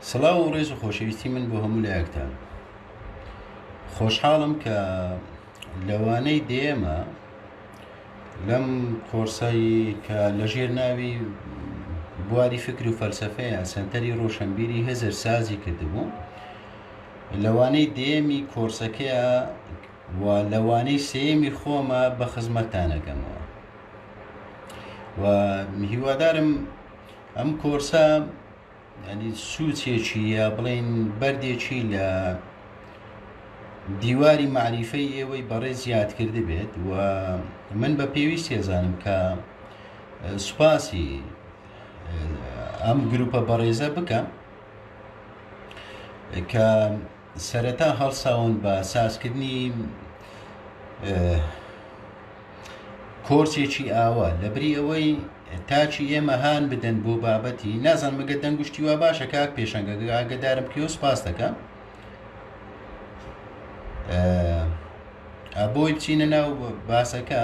سڵاو و ڕێز و خۆشەویستی من بۆ هەموو لایەکتان خۆشحاڵم کە لەوانەی دێمە لەم کۆرسایی کە لەژێر ناوی بواری فکر و فەلسفەیە سنتەری ڕۆشنبیری هزر سازی کردبوو لەوانەی دێمی کۆرسەکەیە و لەوانەی سێمی خۆمە بە خزمەتانەکەمەوە و هیوادارم ئەم کۆرسە ینی سوچێکی یا بڵین بەردێکی لە دیواری معریفەی ئێوەی بەڕێ زیاد کرد بێت و من بە پێویست هێزانم کە سوپاسی ئەم گروپە بەڕێزە بکەم کە سەرەتا هەڵساون بە سازکردنی کۆرسێکی ئاوا لەبری ئەوەی تاچی ئێمە هان بدەن بۆ بابەتی نازان مەگە دەنگشتی وا باشە کاک پێشەنگەگە ئاگدارم کیۆ سپاس دەکەم ئەبۆی بچینە ناو باسەکە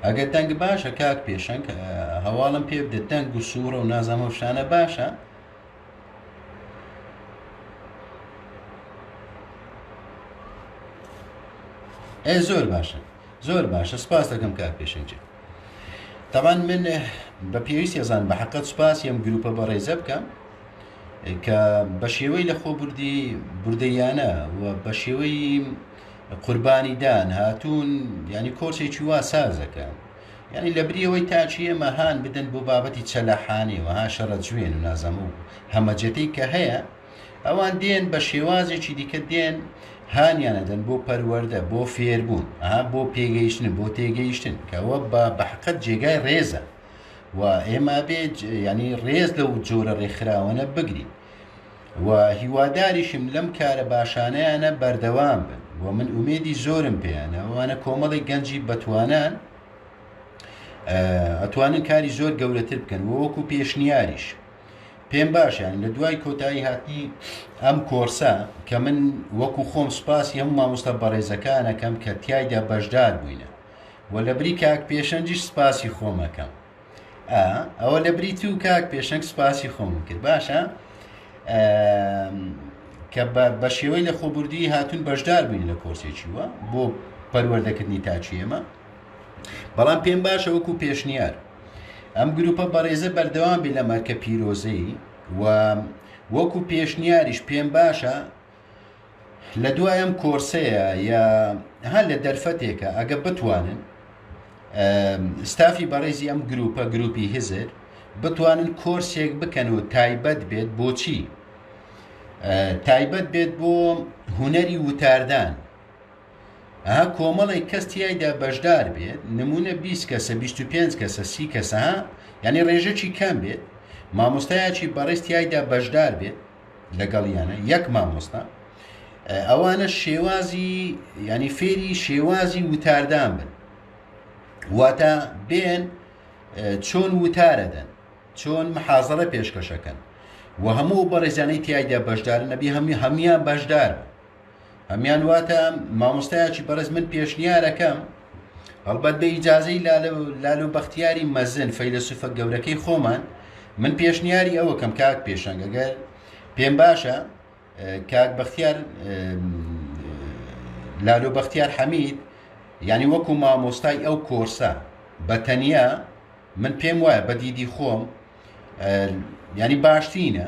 ئەگەر دەنگ باشە کاک پێشەنگ هەواڵم پێ بدە دەنگ و سوورە و نازەمە شانە باشە ئێ زۆر باشە زۆر باشە سپاس دەکەم کار پێشنجە تاوان من بە پێویست ێزان بە حقت سپاس یەم گروپە بە ڕێزە بکەم کە بە شێوەی لە خۆ بردی بردەیانە و بە شێوەی قوربانیدان هاتوون ینی کۆچێکی وا سازەکە یانی لەبری ئەوەی تاکی ئێمە هان بدەن بۆ بابەتی چەلەحانێ و ها شەڕە جوێن و نازەمە و هەمەجەتەی کە هەیە، ئەوان دێن بە شێوازێکی دیکە دێن هانیان ئەدەن بۆ پەروەردە، بۆ فێربوون، ها بۆ پێگەیشتن، بۆ تێگەیشتن، کە ئەوە بە بەحەقەت جێگای ڕێزە و ئێمە ئەبێ یانی ڕێز لەو جۆرە ڕێکخراوانە بگرین. و هیواداریشم لەم کارە باشانەیانە بەردەوام بن و من ئومێدی زۆرم پێیانە وانە کۆمەڵی گەنجی بەتوانان ئەتوانن کاری زۆر گەورەتر بکەن وەکو پێشنیاریش پێم باشیان لە دوای کۆتایی هاتنی ئەم کۆرسە کە من وەکو خۆم سوپاسی هەم مامۆستا بەڕێزەکانەکەم کە تایدا بەشدار بووینە و لە بری کاک پێشەنجیش سپاسی خۆمەکەم ئەوە لە بری تو کاک پێشنگ سوپاسی خۆم کرد باشە کە بە شێوەی لە خۆبوردی هاتون بەشدار بووین لە کۆرسێکی وە بۆ پەروەردەکردنی تاچی ئێمە بەڵام پێم باشە وەکو پێشنیار ئەم گروپە بەڕێزە بەردەوام بێ لە مەرکە پیرۆزەی و وەکو پێشنیاریش پێم باشە لە دوای ئەم کۆرسەیە یا هەر لە دەرفەتێکە ئەگە بتوانن ستافی بەڕێزی ئەم گروپە گروپی هزر بتوانن کۆرسێک بکەن و تایبەت بێت بۆچی تایبەت بێت بۆ هوەری وتاردان ئەها کۆمەڵێک کەس تایدا بەشدار بێت نمونە 20 کەسە 25 کەسە سی کەسە یعنی ڕێژەکی کەم بێت مامۆستایەکی بەڕێز تایدا بەشدار بێت لەگەڵیانە یەک مامۆستا ئەوانە شێوازی ینی فێری شێوازی وتاردان بن واتە بێن چۆن وتارەدەن چۆن محازرە پێشکەشەکەن و هەموو بەڕێزانەی تایدا بەشدار نەبی هەمی هەموان بەشدار هەمان واتە مامۆستایەکی بەڕێز من پێشنیارەکەم هەڵبەت بە ئیجازەی لال و بەختیاری مەزن فەیلسوفە گەورەکەی خۆمان من پێشنیاری ئەوەکەم کاک پێشەنگەگەر پێم باشە کاک بەختیار لالۆ بەختیار حەمید ینی وەکو مامۆستای ئەو کۆرسە بە تەنیا من پێم وایە بە دیدی خۆم ینی باشترینە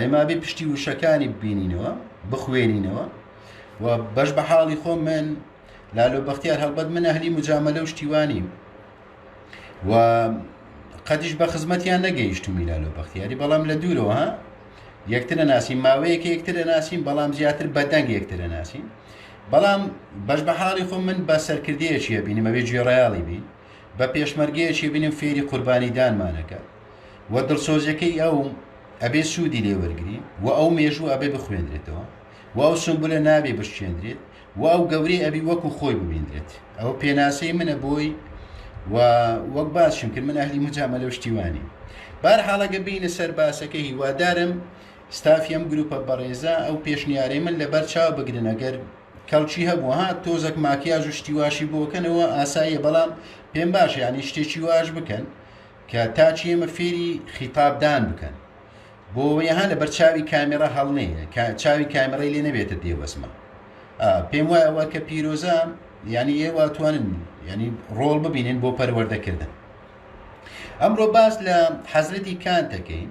ئێمابێ پشتی وشەکانی ببینینەوە بخوێنینەوە و بەش بە حاڵی خۆ من لالۆ بەختیار هەڵبەت من ئەهلی مجاملە و شتیوانی و قەدیش بە خزمەتیان نەگەیشتمی لالۆ بەختیاری بەڵام لە دوورەوە ها یەکترە ناسیم ماوەیەکە یەکترە ناسیم بەڵام زیاتر بەدەنگ یەکترە ناسیم بەڵام بەش بە حاڵی خۆ من بە سەرکردەیەکی هەبینمەوێ گوێڕایاڵی بین بە پێشمەرگەیەکی بنێم فێری قوربانی دانمان ئەکات و دڵسۆزیەکەی ئەو ئەبێ سوودی لێ وەرگری و ئەو مێژوو ئەبێ بخوێندرێتەوە و ئەو سمبولە نابێ بشکێندرێت و ئەو گەورەی ئەبی وەکو خۆی ببیندرێت ئەوە پێناسەی منە بۆی و وەک باسشم کرد من ئەهلی مجامە لەو شتیوانی بار حاڵەگە بینە سەر باسەکە هیوادارم ستافیم گروپە بەڕێزە ئەو پێشنیارەی من لەبەر چاو بگرن ئەگەر کەڵکی هەبوو ها تۆزەک ماکیاژ و شتی واشی بۆ بکەن ئەوە ئاساییە بەڵام پێم باشە یانی شتێکی واش بکەن کە تاچی ئێمە فێری خیتابدان بکەن بۆ یەها لە بەر چاوی کامێرا هەڵنێ کە چاوی کامێرای لێ نەبێتە دێوەزمە ئا، پێم وایە ئەوە کە پیرۆزە یانی ئێوە توانن یعنی ڕۆڵ ببینن بۆ پەروەردەکردن ئەمڕۆ باس لە حەزرەتی کانتەکەین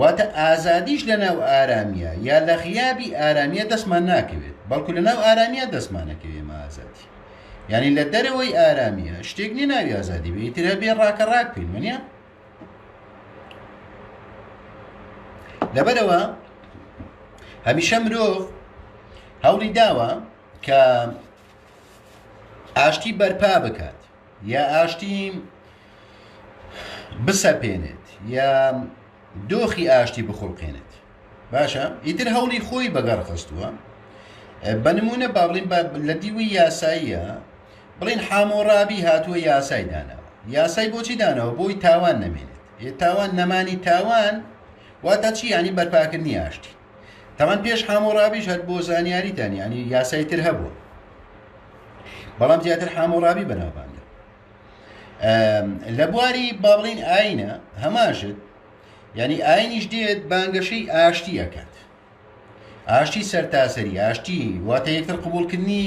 واتە ئازادیش لەناو ئارامیە یا لە غیابی ئارامیە دەستمان ناکەوێت بەڵکو لەناو ئارامیە دەستمانەکەوێ مە ئازادی یعنی لە دەرەوەی ئارامیە شتێک نیە ناوی ئازادی بێ ترە بێ ڕاکە ڕاک بکەین منە لەبەرەوە هەمیشە مرۆڤ هەوڵی داوە کە ئاشتی بەرپا بکات یا ئاشتی بسەپێنێت یا دۆخی ئاشتی بخڵقێنێت باشە ئیتر هەوڵی خۆی بەگەڕ خستووە بە نمونە با بڵین لە دیوی یاساییە بڵین حامۆڕابی هاتووە یاسای داناوە یاسای بۆچی دانەوە بۆی تاوان نەمێنێت تاوان نەمانی تاوان واتە چی ینی بەرپاکردنی ئاشتی تەمان پێش حامۆڕابیش هەر بۆ زانیاریتان یعنی یاسای تر هەبوو بەڵام زیاتر حامۆڕابی بەناوبانگە لە بواری باڵین ئاینە هەماشت یعنی ئاینیش دێت بانگەشەی ئاشتی ئەکات ئاشتی سەرتاسەری ئاشتی واتە یەکتر قوبولکردنی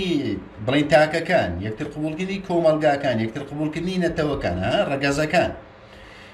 بڵین تاکەکان یەکتر قوبولکردنی کۆمەلگاکان یەکتر قوبولکردنی نەتەوەکان ڕگەزەکان.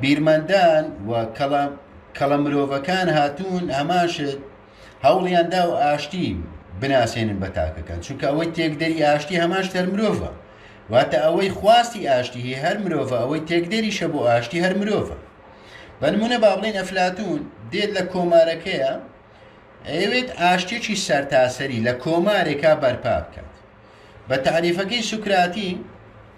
بیرمەندان و کەڵە مرۆڤەکان هاتوون هەمان شت هەوڵیان دا و ئاشتی بناسێنن بە تاکەکان چونکە ئەوەی تێکدەری ئاشتی هەمان شتەر مرۆڤە واتە ئەوەی خواستی ئاشتی هەر مرۆڤە ئەوەی تێکدەریشە بۆ ئاشتی هەر مرۆڤە بەنمونە با بڵین ئەفلاتون دێت لە کۆمارەکەیە ئەوێت ئاشتێکی سەرتاسەری لە کۆمارێکا بەرپا بکات بە تعریفەکەی سوکراتی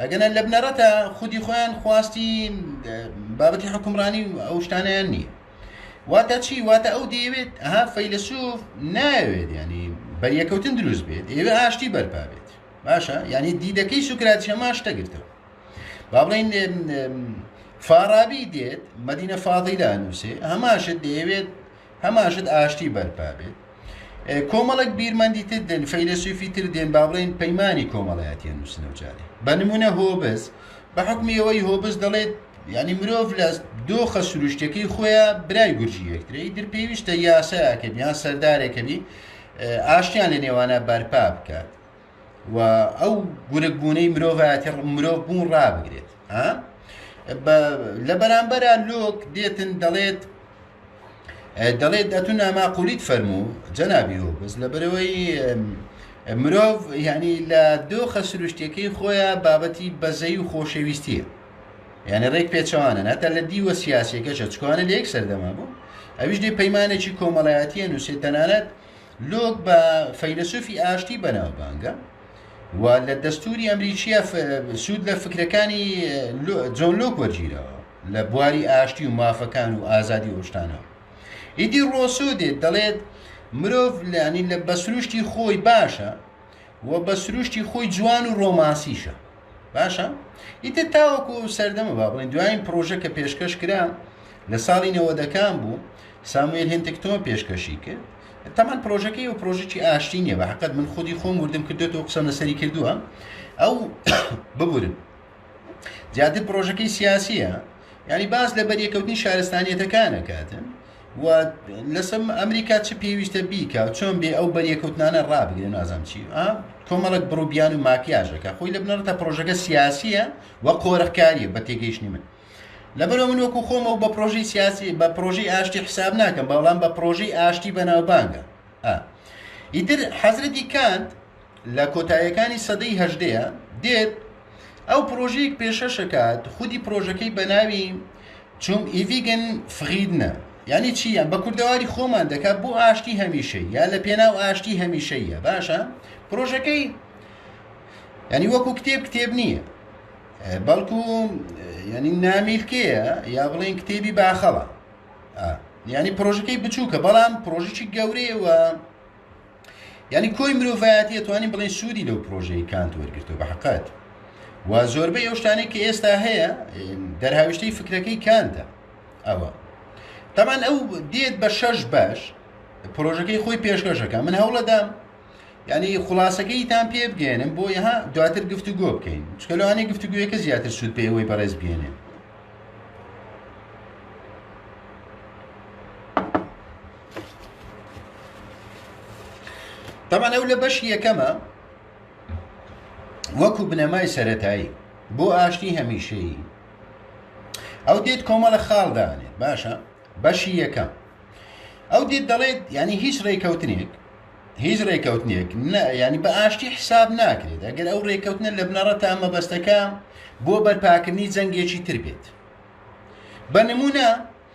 ئەگەنا لە بنەڕەتە خودی خۆیان خواستی بابەتی حکومڕانی و ئەو شتانیان نییە واتە چی واتە ئەو دەیەوێت ها فەیلسوف ناوێت ینی بەریەکەوتن دروست بێت ئێوە ئاشتی بەرپا بێت باشە ینی دیدەکەی سوکرات هەما شتە گرتەوە با بڵین فارابی دێت مدینە فاضیلا نووسێ هەماشت دەیەوێت هەماشت ئاشتی بەرپا بێت کۆمەڵک بیرمەندی تر دێن فەیلەسوفی تر دێن با بڵێن پەیمانانی کۆمەڵایەتیان نووسنە و جارێ بە نمونە هۆبز بە حکمی ئەوەی هۆبز دەڵێت ینی مرۆڤ لە دۆخە سروشتەکەی خۆیان برای گورجی یەکترەی در پێویستە یاسایەکە بیان سەردارێکەبی ئاشتیان لە نێوانە بەرپا بکات و ئەو گورگ بوونەی مرۆڤایەتی مرۆڤ بوون ڕابگرێت لە بەرامبەر لۆک دێتن دەڵێت دەڵێت ئەتو ناماقولیت فەرموو جەنابی و بەس لەبەرەوەی مرۆڤ یعنی لە دۆخە سروشتەکەی خۆیە بابەتی بەزەی و خۆشەویستیە یعنی ڕێک پێچەوانە ناتە لە دیوە سیاسەکەشە چکوانە لە یەک سەردەما بوو ئەویش دێ پەیمانێکی کۆمەڵایەتیە نووسێت تەنانەت لۆک بە فەیلەسوفی ئاشتی بەناوبانگە و لە دەستوری ئەمریکیە سوود لە فکرەکانی جۆن لۆک وەرگیرەوە لە بواری ئاشتی و مافەکان و ئازادی ئۆشتانەوە ئیدی ڕۆسۆ دێت دەڵێت مرۆڤ لانی لە بەسروشتی خۆی باشە و بە سروشتی خۆی جوان و ڕۆمانسیشە باشە ئیتر تاوەکو سەردەمە با بڵێن دوایین پرۆژە کە پێشکەش کرا لە ساڵی نەوەدەکان بوو ساموێل هێنتکتۆن پێشکەشی کرد تەمان پرۆژەکەی و پرۆژێکی ئاشتی نیە بە حقت من خودی خۆم وردم کردێتەوە قسەم لەسەری کردووە ئەو ببورن زیاتر پرۆژەکەی سیاسیە ینی باز لە بەریەکەوتنی شارستانیەتەکانە کاتن و لەسم ئەمریکا چ پێویستە بیکە چۆن بێ ئەو بەریەکەوتنانە ڕابگرێ نازانم چی کۆمەڵک بڕوبیان و ماکیاژەکە خۆی لە بنەڕەتە پرۆژەکە سیاسیە و قۆرخکاریە بە تێگەیشتنی من لەبەرەوە من وەکو خۆم و بە پرۆژی سیاسی بە پرۆژی ئاشتی حساب ناکەم بەڵام بە پرۆژی ئاشتی بەناوبانگە ئیتر حەزرەتی کانت لە کۆتایەکانی سەدەی هەژدەیە دێت ئەو پرۆژەیەک پێشەشەکات خودی پرۆژەکەی بەناوی چوم ئیڤیگن فغیدنە یعنی چی یان بە کوردەواری خۆمان دەکات بۆ ئاشتی هەمیشە یا لە پێناو ئاشتی هەمیشەیە باشە پرۆژەکەی ینی وەکو کتێب کتێب نییە بەڵکو ینی نامیلکەیە یا بڵێن کتێبی باخەڵە ینی پرۆژەکەی بچووکە بەڵام پرۆژیی گەورەیەوە یانی کۆی مرۆڤایەتی ئەتوانین بڵێن سوودی لەو پرۆژەی کانت وەرگرتو بە حقت و زۆربەی ئەو شتانەی کە ئێستا هەیە دەرهاویشتەی فکرەکەی کانتە ئەوە تەمان ئەو دێت بە شەش بەش پرۆژەکەی خۆی پێشکەشەکە من هەوڵەدام یعنی خلاصەکەی تان پێ بگەێنم بۆ یها دواتر گفتوگۆ بکەین چکە لەوانەیە گفتوگویەکە زیاتر سوود پێوەی بەڕێز بگەێنێ تەبەن ئەو لە بەشی یەکەمە وەکو بنەمای سەتایی بۆ ئاشتی هەمیشەیی ئەو دێت کۆمەڵە خاڵدانێت باشە بەشی یەکەم ئەو دێت دەڵێت ینی هیچ ڕێککەوتنێک هیچ ڕێککەوتنێک ینی بە ئاشتی حساب ناکرێت ئەگەر ئەو ڕێککەوتنە لە بنەڕە تا مەبەستەکە بۆ بەرپاکردنی جەنگێکی تر بێت بە نمونە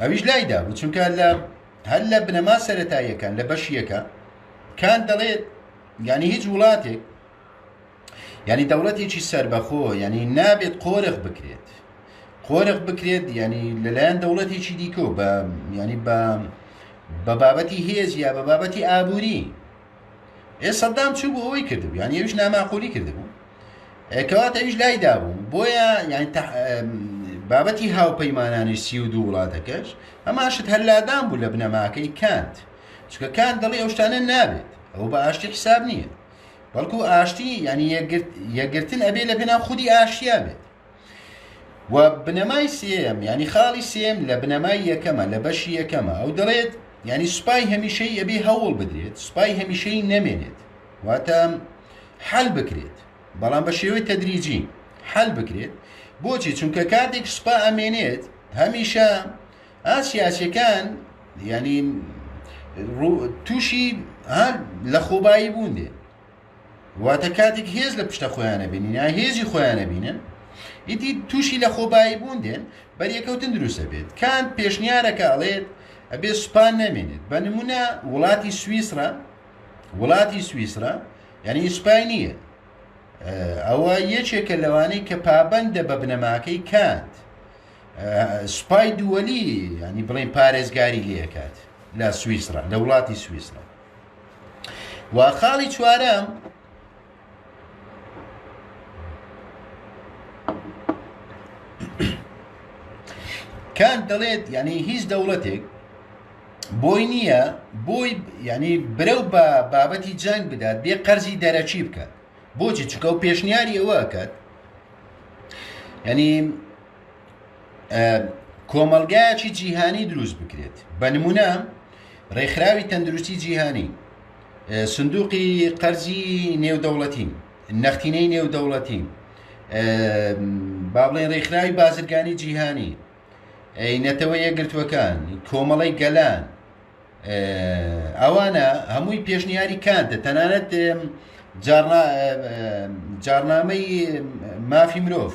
ئەویش لایدا بوو چونکە لە هەر لە بنەما سەتاییەکان لە بەشیەکە کان دەڵێت ینی هیچ وڵاتێک ینی دەوڵەتێکی سربەخۆ ینی نابێت قۆرخ بکرێت قۆرخ بکرێت ینی لەلایەن دەوڵەتێکی دیکۆ بە ینی بە بە بابەتی هێز یا بە بابەتی ئابووری ئێ سەدام چوو بۆ ئەوەی کردبوو یان ئەویش ناماقولی کردبوو کەواتە ئەویش لای دابوو بۆیە یان بابەتی هاوپەیمانانی سی و دوو وڵاتەکەش ئەماشت هەلادان بوو لە بنەماکەی کانت چکە کان دەڵی ئەو شتانە نابێت ئەو بە ئاشتی حساب نییە بەڵکو ئاشتی ینی یەکگرتن ئەبێ لە پێنا خودی ئاشتیا بێت و بنەمای سێم ینی خاڵی سێم لە بنەمای یەکەمە لە بەشی یەکەمە ئەو دەڵێت ینی سوپای هەمیشەی ئەبێ هەوڵ بدرێت سوپای هەمیشەی نەمێنێت واتە حل بکرێت بەڵام بە شێوەی تەدریجی حل بکرێت بۆچی چونکە کاتێک سوپا ئەمێنێت هەمیشە ئاسیاسەکان ینی تووشی لە خۆبایی بوون دێ واتە کاتێک هێز لە پشتە خۆیانە بینین یا هێزی خۆیانە بینن ئیدی تووشی لە خۆبایی بوون دێن بەریەکەوتن دروستە بێت کان پێشنیارەکە ئەڵێت ئەبێ سوپان نامێنێت بە نمونە وڵاتی سوئیسرا وڵاتی سوئیسرا یعنی سوپای نییە ئەوە یەکێکە لەوانەی کە پابندە بە بنەماکەی کات سوپای دووەلی ینی بڵێن پارێزگاری لەکات لە سوئیسرا لە وڵاتی سوئیسرا و خاڵی چوارەم کان دەڵێت یعنی هیچ دەوڵەتێک بۆی نییە بۆی ینی برەو بە بابەتی جەنگ بدات بێ قەرزی دەرەچی بکات بۆچی چکە و پێشنیاری ئەوەکات ینی کۆمەڵگایەکی جیهانی دروست بکرێت بە نمونە ڕێکخراوی تەندروستی جیهانی سندوقی قەرزی نێودەوڵەتی نەختینەی نێودەوڵەتی با بڵێن ڕێکخراوی بازرگانی جیهانی نەتەوە یەگرتوەکان کۆمەڵی گەلان ئەوانە هەمووی پێشنیاری کانتە تەنانەت جارنامەی مافی مرۆڤ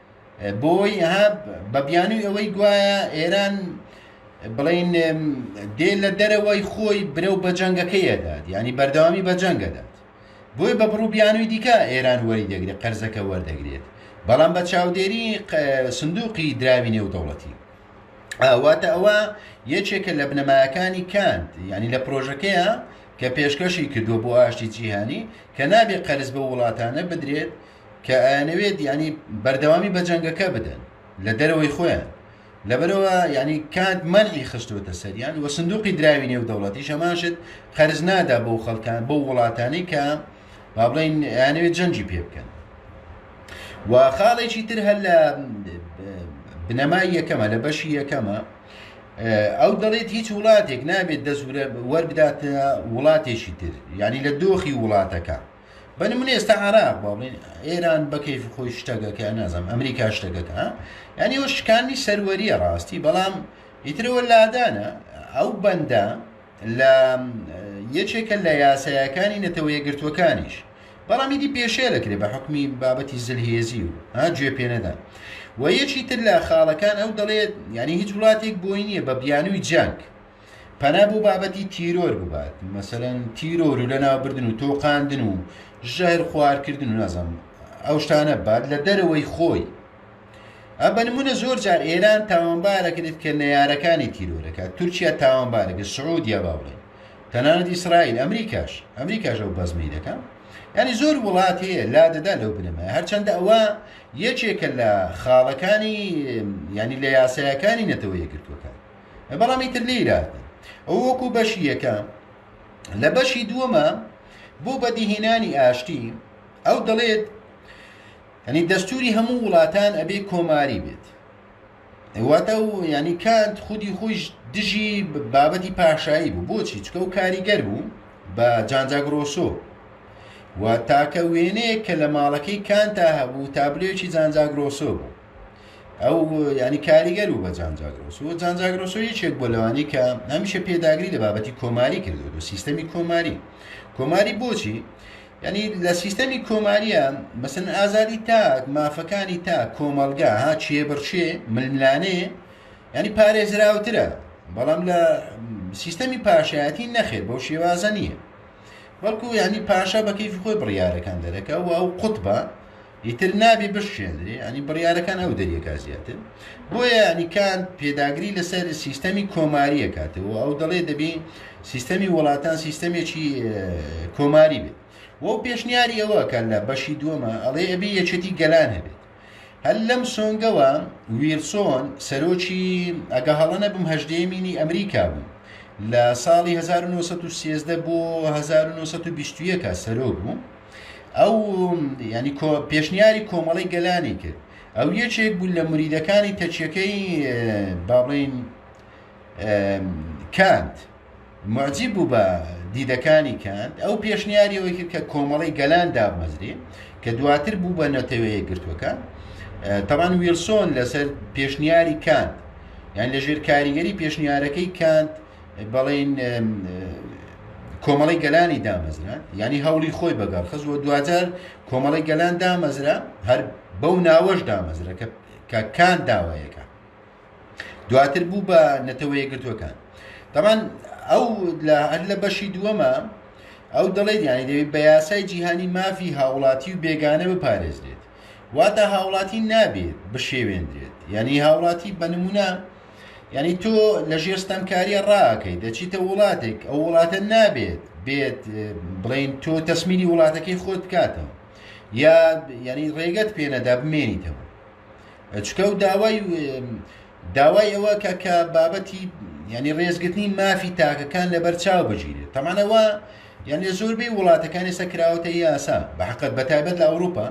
بۆی ها بە بیانوی ئەوەی گوایە ئێران بڵین دێ لە دەرەوەی خۆی برە و بەجەنگەکەیەدات ینی بەردەوامی بەجەنگەدات بۆی بە بڕوو بیانوی دیکە ئێران وەری دەگرێت قەرزەکە وەردەگرێت بەڵام بە چاودێری سندوقی دراوی نێودەوڵەتی ئاواتە ئەوە یەکێکە لە بنەمایەکانی کاند ینی لە پرۆژەکەیە کە پێشکەشی کردووە بۆ ئاشتی جیهانی کە نابێت قەرز بە وڵاتانە بدرێت کە ئەیانەوێت ینی بەردەوامی بە جەنگەکە بدەن لە دەرەوەی خۆیان لەبەرەوە ینی کات مەرعی خستوتە سەریان وە سندوقی دراوی نێو دەوڵەتی شەماشت قەرز نادا بۆ خەڵکان بۆ وڵاتانی کە با بڵین یانەوێت جەنجی پێ بکەن و خاڵێکی تر هەر لە بنەمای یەکەمە لە بەشی یەکەمە ئەو دەڵێت هیچ وڵاتێک نابێت دەزورە وەربداتە وڵاتێکی تر ینی لە دۆخی وڵاتەکە بە نمونە ئێستا عراق با بڵێن ئێران بە کەیفی خۆی شتەگەکە نازانم ئەمریکا شتەگەکە ها؟ یعنی ئەوە شکانی سەروەریە ڕاستی بەڵام ئیترەوە لادانە ئەو بەندە لە یەکێکە لە یاسایەکانی نەتەوە یەکگرتووەکانیش بەڵام ئیدی پێشێ دەکرێت بە حکمی بابەتی زلهێزی و ها گوێ پێ نەدان و یەکی تر لە خاڵەکان ئەو دەڵێت یعنی هیچ وڵاتێک بۆی نییە بە بیانووی جەنگ پەنا بۆ بابەتی تیرۆر ببات مەسەلەن تیرۆر و لەناوبردن و تۆقاندن و ژەهر خوارکردن و نازم ئەو شتانە بات لە دەرەوەی خۆی ئە بە نمونە زۆر جار ئێران تاوانبارەکرێت کە نەیارەکانی تیرۆرەکە تورکیا تاوانبارەکە سعودیا باوڵێ تەنانەت ئیسرائیل ئەمریکاش ئەمریکاش ئەو بەزمی دەکە ینی زۆر وڵات هەیە لا دەدا لەو بنەمە هەرچەندە ئەوە یەکێکە لە خاڵەکانی ینی لە یاسایەکانی نەتەوە یەکردوەکان بەڵام ئیتر لێیراندن ئەو وەکو بەشی یەکە لە بەشی دووەمە بۆ بەدیهێنانی ئاشتی ئەو دەڵێت ئەنی دەستوری هەموو وڵاتان ئەبێ کۆماری بێت واتە و ینی کانت خودی خۆش دژی بابەتی پاشایی بوو بۆچی چکە و کاریگەر بوو بە جانجاگرۆسۆ و تاکە وێنەیە کە لە ماڵەکەی کانتا هەبوو تابلێکی جانجاگرۆسۆ بوو ئەو ینی کاریگەر و بە جانجاگرۆس و جانجاگرۆسۆ یەکێک بۆ لەوانی کە هەمیشە پێداگری لە بابەتی کۆماری کردو و سیستەمی کۆماری کۆماری بۆچی ینی لە سیستەمی کۆماریە مەسن ئازادی تاک مافەکانی تا کۆمەلگا ها چێ بڕچێ ململانێ ینی پارێزراوترە بەڵام لە سیستەمی پاشایەتی نەخێت بەو شێوازە نییە بەڵکو ینی پاشا بەکەیفی خۆی بڕیارەکان دەرەکە و ئەو قوتبە ئیتر نابێ بشکێندرێ یانی بڕیارەکان ئەو دەریەکا زیاتر بۆیە یانی کانت پێداگری لەسەر سیستەمی کۆماریە کاتەوە ئەو دەڵێ دەبێ سیستەمی وڵاتان سیستەمێکی کۆماری بێت وەو پێشنیاری ئەوە کە لە بەشی دووەمە ئەڵێ ئەبێ یەکێتی گەلان هەبێت هەل لەم سۆنگەوە ویلسۆن سەرۆکی ئەگە هەڵە نەبم هەژدەیەمینی ئەمریکا بوو لە ساڵی 1930 بۆ 1920 سەرۆک بوو ئەو یانی کۆ پێشنیاری کۆمەڵی گەلانی کرد ئەو یەکێک بوو لە مریدەکانی تەچەکەی باڵین کانت معجیب بوو بە دیدەکانی کانت ئەو پێشنیاریەوەی کرد کە کۆمەڵی گەلان دابمەزرێ کە دواتر بوو بە نەتەوەیە گرتوەکە تەوان ویلسۆن لەسەر پێشنیاری کانت یان لە ژێر کاریگەری پێشنیارەکەی کانت بەڵین کۆمەڵی گەلانی دامەزرا ینی هەوڵی خۆی بەگەڕ خز و دوجار کۆمەڵی گەلان دامەزرا هەر بەو ناوەش دامەزرا کە کە کان داوایەکە دواتر بوو بە نەتەوەیە گرتوەکان دەمان ئەو لە هەر لە بەشی دووەمە ئەو دەڵێت یانی دەوێت بە یاسای جیهانی مافی هاوڵاتی و بێگانە بپارێزرێت واتە هاوڵاتی نابێت بشێوێندرێت یعنی هاوڵاتی بە نمونە یعنی تۆ لە ژێر ستەمکاریە ڕاکەی دەچیتە وڵاتێک ئەو وڵاتە نابێت بێت بڵین تۆ تەسمیری وڵاتەکەی خۆت بکاتەوە یا یعنی ڕێگەت پێنەدا بمێنیتەوە چکە و داوای داوای ئەوە کە کە بابەتی ینی ڕێزگرتنی مافی تاکەکان لەبەر چاو بگیرێت تەمانەوە یان لە زۆربەی وڵاتەکانی سەکراوەتە یاسا بەحقت بەتایبەت لە ئەوروپا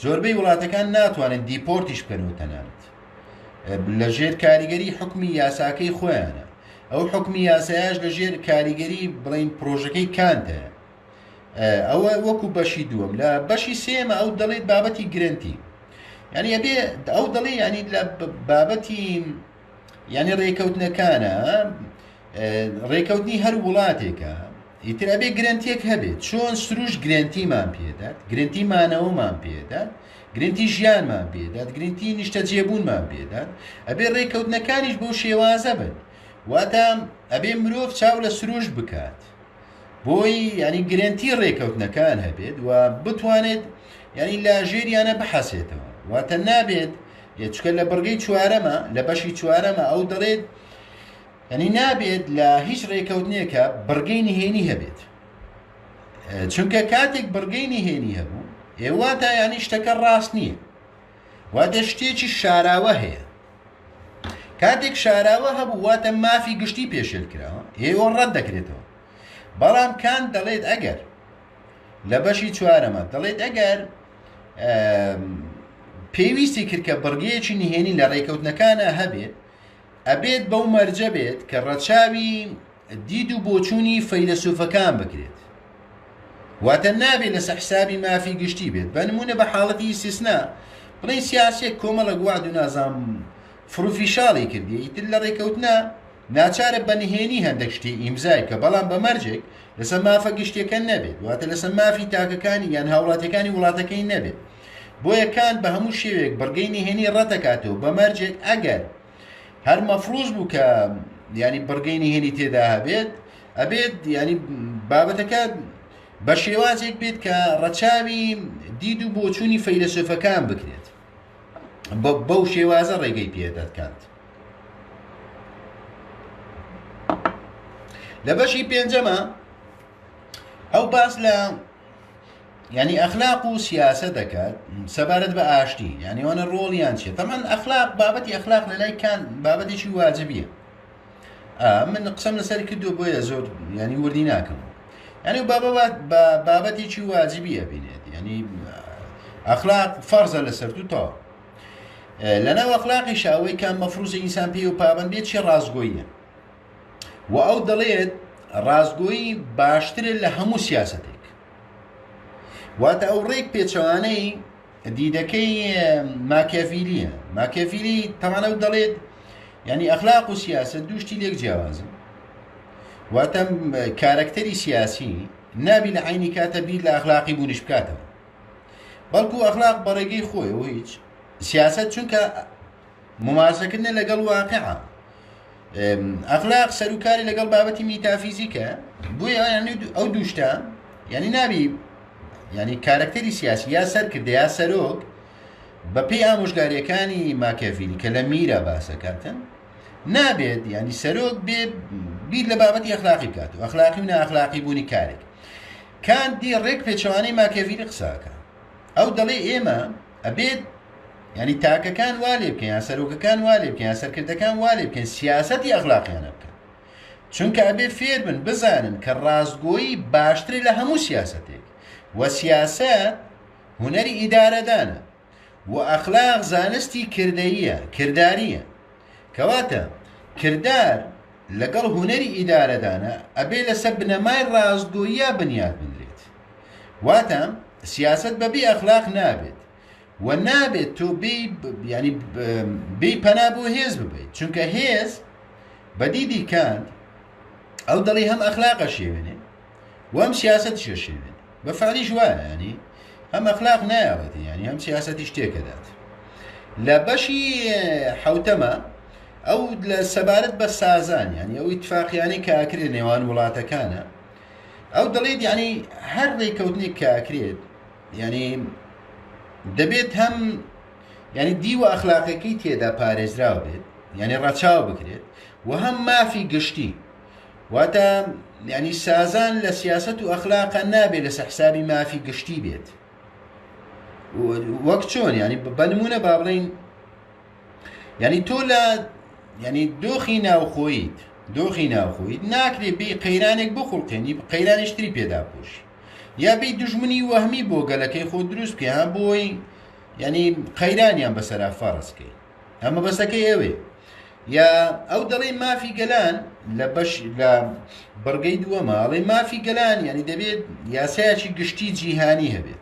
زۆربەی وڵاتەکان ناتوانن دیپۆرتیش بکەن و تەنانەت لە ژێر کاریگەری حکمی یاساکەی خۆیانە ئەو حکمی یاسایش لە ژێر کاریگەری بڵین پرۆژەکەی کانتە ئەوە وەکو بەشی دووەم لە بەشی سێمە ئەو دەڵێت بابەتی گرنتی ینی ئەبێ ئەو دەڵێ ینی لە بابەتی ینی ڕێکەوتنەکانە ڕێکەوتنی هەر وڵاتێکە ئیتر ئەبێ گرەنتیەک هەبێت چۆن سروش گرەنتیمان پێدات گرنتی مانەوەمان پێدات گرنتی ژیانمان پێدات گرنتی نیشتەجێبوونمان پێدات ئەبێ ڕێکەوتنەکانیش بەو شێوازە بن واتە ئەبێ مرۆڤ چاو لە سروش بکات بۆی ینی گرنتی ڕێکەوتنەکان هەبێت و بتوانێت ینی لە ژێریانە بحەسێتەوە واتە نابێت چکە لە بڕگەی چوارەمە لە بەشی چوارەمە ئەو دەڵێت یانی نابێت لە هیچ رێکەوتنێکە بڕگەی نهێنی هەبێت چونکە کاتێک بڕگەی نهێنی هەبوو ئێوە تا یانی شتەکە ڕاست نییە واتە شتێکی شاراوە هەیە کاتێک شاراوە هەبوو واتە مافی گشتی پێشێل کراوە ئێوە ڕەت دەکرێتەوە بەڵام کان دەڵێت ئەگەر لە بەشی چوارەمە دەڵێت ئەگەر پێویستی کردکە بڕگەیەکی نهێنی لە ڕێکەوتنەکانە هەبێت ئەبێت بەو مەرجە بێت کە ڕەچاوی دید و بۆچوونی فەیلەسوفەکان بکرێت. واتە نابێت لەسەر حسابی مافی گشتی بێت. بە نمونە بە حاڵەتی ئیسیسنا بڵین سیاسێک کۆمەڵک وعد و نازام فروفیشاڵی کردی ئیتر لە ڕێکەوتنا ناچارە بە نهێنی هەندێک شتی ئیمزای کە بەڵام بە مەرجێک لەسەر مافە گشتیەکە نەبێت واتە لەسەر مافی تاکەکانی یان هاوڵاتیەکانی وڵاتەکەی نەبێت. بۆیە کانت بە هەموو شێوەیەک بڕگەی نهێنی ڕەتدەکاتەوە بە مەرجێک ئەگەر هەر مەفروز بوو کە ینی بڕگەی نهێنی تێدا هەبێت ئەبێت ینی بابەتەکە بە شێوازێک بێت کە ڕەچاوی دید و بۆچوونی فەیلسوفەکان بکرێت بەو شێوازە ڕێگەی پێدەکات لە بەشی پێنجەمە ئەو باس لە یانی ئەخلاق و سیاسەتەکە سەبارەت بە ئاشتی یانی ئەوانە ڕۆڵیان چیە تەمان ئەخلاق بابەتی ئەخلاق لە لای کان بابەتێکی واجبیە من قسەم لەسەر کردو بۆیە زۆر ینی وردی ناکەم ینی و بابەت بە بابەتێکی واجبیە بینێت ینی ئەخلاق فەرزە لەسەر تو تاو لەناو ئەخلاقی شاوەی کە مەفروزە ئینسان پێ و پابندێت چی ڕاستگۆیە و ئەو دەڵێت ڕاستگۆیی باشترە لە هەموو سیاستێک واتە ئەو ڕێک پێچەوانەی دیدەکەی ماکیافیلیە ماکیافیلی تەمانە و دەڵێت ینی ئەخلاق و سیاست دوشتی لێک جیاوازن واتە کارەکتەری سیاسی نابی لە عینی کاتە بیر لە ئەخلاقی بوونیش بکاتەوە بەڵکو ئەخلاق بەڕێگەی خۆی و هیچ سیاست چونکە مماسەکردە لەگەڵ واقعە ئەخلاق سەروکاری لەگەڵ بابەتی میتافیزیکە بۆیە ینی ئەو دووشتا ینی نابی ینی کارکتەری سیاسی یا سەر کردە یا سەرۆک بەپی ئامۆژگاریەکانی ماکەڤیلی کە لە میرە باسەکاتن نابێت ینی سەرۆک بێ بیر لە بابەتی ئەخلاقی بکات و ئەخلاقی و ناخلاقی بوونی کارێک کاندی ڕێک پێچوانەی ماکەڤیلی قساکە ئەو دەڵێ ئێمە ئەبێت یعنی تاکەکان وا لێ بکەین یا سەرۆکەکان وا لێ بکەین یا سەرکردەکان وا لێ بکەین سیاسەتی ئەغلاقیانە بکەن چونکە ئەبێ فێر بن بزانن کە ڕاستگۆیی باشترێ لە هەموو سیاسەتێک و سیاسەت هوەری ئیدارەدانە و ئەخلاق زانستی کردەیە کردداریە کەواتە کردار لەگەڵ هوەری ئیدارەدانە ئەبێ لەسەر بنەمای ڕاستگۆیە بنیاد بنرێت واتە سیاسەت بە بێ ئەخلاق نابێت و نابێت تۆ ینی بی پەنا بۆ هێز ببیت چونکە هێز بەدیدی کاند ئەو دڵی هەم ئەخلاقە شێوێنێ وام سیاست شێشێنێ بە فعلی ژوانانی هەم ئەخلاق نایەتی ینی هەم سیاستی شتێکەدات لە بەشی حوتەمە ئەو لە سەبارەت بە سازان ینی ئەو اتفاقیانی کاکرێ نێوان وڵاتەکانە ئەو دەڵێت یعنی هەر ڕێککەوتنێک کە ئەکرێت یعنی دەبێت هەم یعنی دیوە ئەخلاقەکەی تێدا پارێزراو بێت یعنی ڕەچاو بکرێت و هەم مافی گشتی واتە یعنی سازان لە سیاست و ئەخلاقە نابێت لەسە حسابی مافی گشتی بێت وەک چۆن یعنی بەنمونە با بڵین یعنی تۆ لە یعنی دۆخی ناوخۆیت دۆخی ناوخۆیت ناکرێ بی قەیرانێک بۆ خوڵقێنی قەیرانیشتری پێدا پوش یا بی دژمنی وەهمی بۆ گەلەکەی خۆ دروست کە هەم بۆی یعنی قەیرانیان بەسەرا فەرزکەی ئەمە بەسەکەی ئەوێ یا ئەو دەڵێ مافی گەلان لە بەش لە بڕگەی دووەمە ئەڵێ مافی گەلان یعنی دەبێت یاسایەکی گشتی جیهانی هەبێت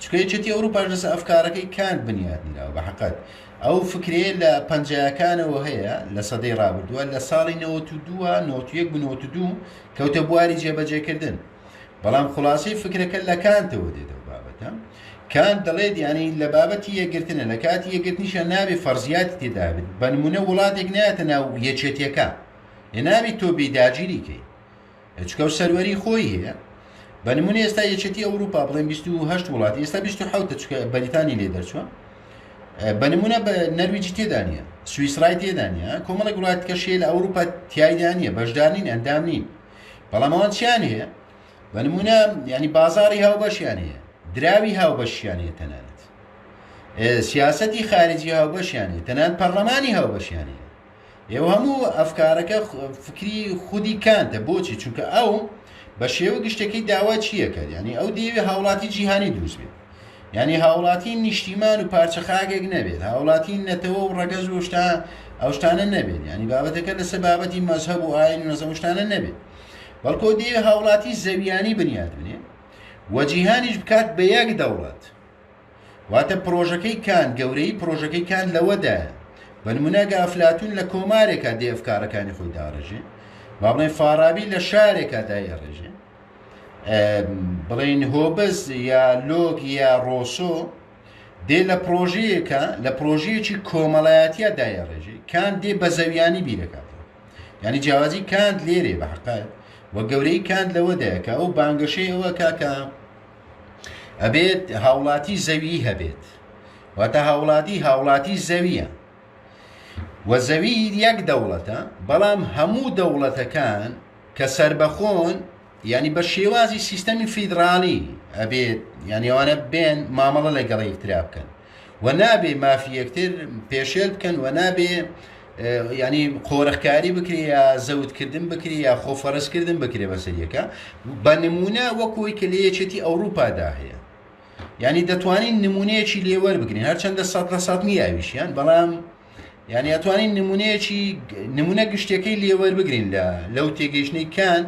چونکە یەکێتی ئەوروپاش لەسەر ئەفکارەکەی کانت بنیات نراوە بە حقت ئەو فکرەیە لە پەنجەکانەوە هەیە لە سەدەی ڕابردووە لە ساڵی 92 92 کەوتە بواری جێبەجێکردن بەڵام خلاصی فکرەکە لە کانتەوە دێتەوە بابەتە کان دەڵێت ینی لە بابەتی یەگرتنە لە کاتی یەگرتنیشە ناوی فەرزیاتی تێدابێت بەنمونە وڵاتێک نایەتە ناو یەکێتیەکە لە ناوی تۆ بێداگیریکەی چکەو سەروەری خۆی هەیە بە نمونە ئێستا یەکێتی ئەوروپا بڵێن 28 وڵات ئێستا 28 چکە بەریتانی لێ دەرچوە بە نمونە بە نەرویجی تێدانە سوئیسرای تێدانە کۆمەڵی وڵات کەشێ لە ئەوروپا تایدانە بەشدارین ئەندام نین بەڵام ئەوان چیان هەیە بە نمونە ینی بازاری هاوبەشیان هەیە دراوی هاوبەشیان هەیە تەنانەت سیاستی خارجی هاوبەشیان هەیە تەنان پەرلەمانی هاوبەشیان هەیە ئێوە هەموو ئەفکارەکە فکری خودی کانتە بۆچی چونکە ئەو بە شێوە گشتەکەی داوا چیەکە ینی ئەو دەیەوێ هاوڵاتی جیهانی دروست بێت ینی هاوڵاتی نیشتیمان و پارچە خاگێک نەبێت هاوڵاتی نەتەوە و ڕەگەز و شتا ئەو شتانە نەبێت ینی بابەتەکە لەسەر بابەتی مەزهب و ئاین و نەزە شتانە نەبێت بەڵکۆ دەیە هاوڵاتی زەویانی بنیاد بنێ وەجیهانیش بکات بە یەک دەوڵەت واتە پڕۆژەکەی کانت، گەورەیی پڕۆژەکەی کانت لەوەدایە، بە نموونە ئەگە ئەفلاتوون لە کۆمارێکا دێ ئەفکارەکانی خۆی داڕێژێ، با بڵێین فاڕابی لە شارێکا دایەڕێژێ، بڵێین هۆبز یا لۆک یا ڕۆسۆ دێ لە پڕۆژەیەکە لە پڕۆژەیەکی کۆمەڵایەتیا دایەڕێژێ، کانت دێ بە زەویانی بیرەکە. یعنی جیاوازی کانت لێرێ بە حقیقت و گەورەی کانت لەوەدایە کە ئەو بانگەشەی ئەوەکە کە ئەبێت هاوڵاتی زەویی هەبێت واتە هاوڵاتی هاوڵاتی زەویە و زەوی یەک دەوڵەتە بەڵام هەموو دەوڵەتەکان کە سربەخۆن ینی بە شێوازی سیستەمی فیدراالی ئەبێت یانیوانە بێن مامەڵە لەگەڵی ترا بکەن و نابێ مافی یەکتر پێشێل بکەن و نابێ ینی قۆرخکاری بکرێ یا زەوتکردن بکرێ یا خۆفەرستکردن بکرێ بەسەریەکە بە نمونە وەکۆی کە لە یەکێتی ئەوروپادا هەیە ینی دەتوانین نمونەیەکی لێوەر بگرین هەرچەندە سە لە سات نیاویشیان بەڵام یعنی ئەتوانین نمونەیەکی نمونە گشتەکەی لێوەر بگرین لە لەو تێگەیشتنی کاند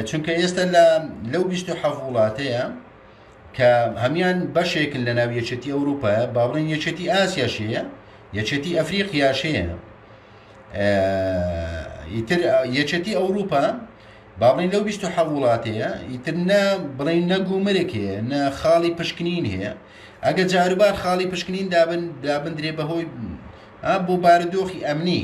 چونکە ئێستا لە لەو 20 حەف وڵاتەیە کە هەموان بەشێکن لە ناو یەکێتی ئەوروپایە با بڵێن یەکێتی ئاسیاش هەیە یەکێتی ئەفریقیاش هەیە ئیتر یەکێتی ئەوروپا با بڵین لەو 26 وڵات هەیە ئیتر نە بڵین نەگومرێک هەیە نە خاڵی پشکنین هەیە ئەگە جاروبار خاڵی پشکنین دابن دابندرێ بەهۆی بۆ بارودۆخی ئەمنی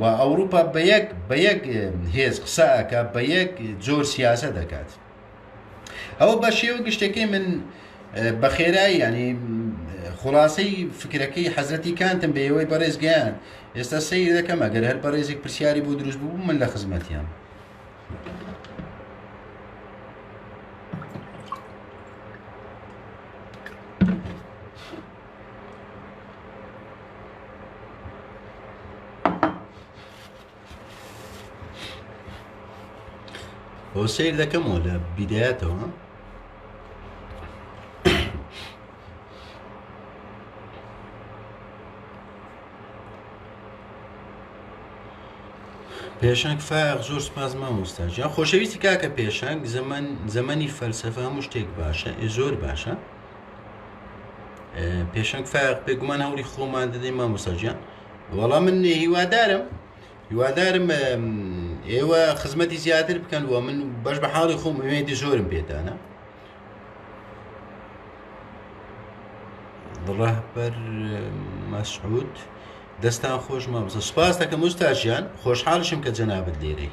و ئەوروپا بە یەک بە یەک هێز قسە ئەکا بە یەک جۆر سیاسە دەکات ئەوە بە شێوە گشتەکەی من بە خێرایی ینی خلاصەی فکرەکەی حەزەتی کانتم بە ئێوەی بەڕێزگەیان ئێستا سەیر دەکەم ئەگەر هەر بەڕێزێک پرسیاری بۆ دروست بوو من لە خزمەتیان. بۆ سیر دەکەمەوە لە بیدایەتەوە پێشنگ فاق زۆر سپاس مامۆستا جا خۆشەویستی کاکە پێشنگ زەمەن زەمەنی فەلسەفە هەموو شتێک باشە ئێ زۆر باشە پێشەنگ فاق بێگومان هەوڵی خۆمان دەدەین مامۆساجیان وەڵام من هیوادارم هیوادارم ئێوە خزمەتی زیاتر بکەن وە من بەش بە حاڵی خۆم ئوێدی زۆرم پێدانە ڕەهبەر مەسعود دەستان خۆش مامۆستا سپاس دەکەم مستاژیان خۆشحاڵشم کە جەنابەت لێرەی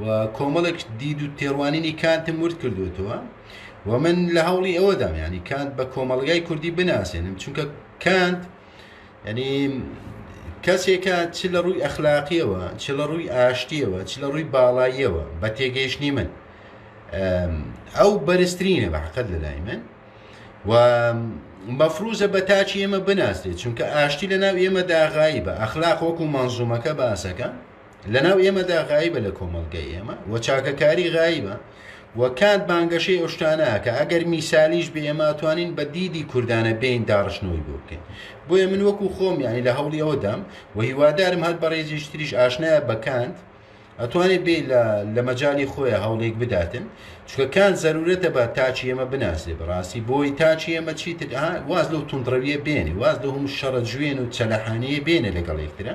و کۆمەڵێک دید و تێڕوانینی کانتم ورد کردوێتەوە و من لە هەوڵی ئەوەدام ینی کانت بە کۆمەلگای کوردی بناسێنم چونکە کانت ینی کەسێکە چ لە ڕووی ئەخلاقیەوە چ لە ڕووی ئاشتیەوە چ لە ڕووی باڵاییەوە بە تێگەیشتنی من ئەو بەرزترینە بە حقت لەلای من و مەفروزە بە تاچی ئێمە بناسرێت چونکە ئاشتی لە ناو ئێمە داغایی بە ئەخلاق وەکو مەنزومەکە باسەکە لەناو ئێمەدا غایبە لە کۆمەڵگای ئێمە و چاکەکاری غایبە و کانت بانگەشەی ئەو شتانەیە کە ئەگەر میسالیش بێ ئێمە ئەتوانین بە دیدی کوردانە بێین داڕشتنەوەی بۆ بکەین بۆیە من وەکو خۆم یانی لە هەوڵی ئەوەدام و هیوادارم هەر بەڕێزیش تریش ئاشنایە بە کانت ئەتوانێت بێ لە مەجای خۆیان هەوڵێک بداتن چکە کان زەرورەتە بە تاچی ئێمە بناسێ بەڕاستی بۆی تاچی ئێمە چیتر واز لەو تونندڕەویە بێنێ واز لە هەموو شەڕە جوێن و چەلەحانەیە بێنێ لەگەڵ یەکترە